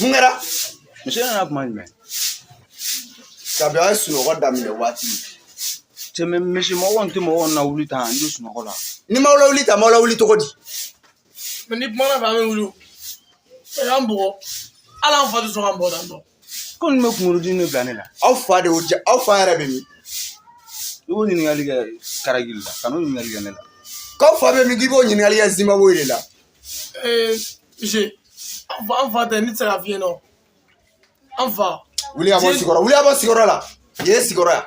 Mun kɛra misi nana kuma jumɛn kabi a ye sunɔgɔ daminɛ waati tɛmɛ misi mɔgɔ tɛ mɔgɔ lawuli tan n bɛ sunɔgɔ la ni n m'a lawuli tan n b'a lawuli cogo di ni kumana fɛ an bɛ wuli an bugɔ ala an fa tɛ sɔn k'an bugɔ tan dɔn ko nin bɛ kunkolo dimi de bila ne la aw fa de y'o ja aw fa yɛrɛ bɛ min i b'o ɲininkali kɛ karagi la ka n'o ɲininkali kɛ ne la k'aw fa bɛ min k'i b'o ɲininkali kɛ zimbabwe de la ee misi an fa an fa tɛ ne tɛ se ka fiɲɛ dɔn an fa wuli ka bɔ sigiyɔrɔ wuli ka bɔ sigiyɔrɔ la yen ye sigiyɔrɔ yan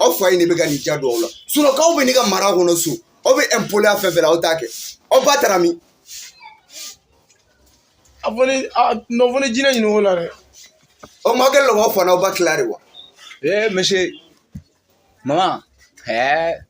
aw fa ye ne bɛ ka nin ja don aw la sinɔn k'aw bɛ ne ka mara kɔnɔ so aw bɛ ɛnpoliya fɛn fɛn la aw t'a kɛ aw ba taara min a fɔ ne a nɔ fɔ ne jinɛ ɲini o la dɛ o ma kɛ lɔgɔ fana aw ba tila de wa ee misi mama ɛɛ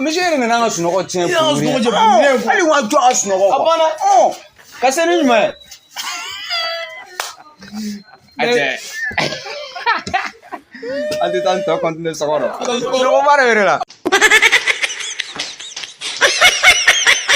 Misi yɛrɛ nana n ka sunɔgɔ tiɲɛ hali wa jɔ a sunɔgɔ a banna ka se ni ɲuman ye an tɛ taa n tɔ kɔntine sɔgɔ dɔ sunɔgɔba de yɛrɛ la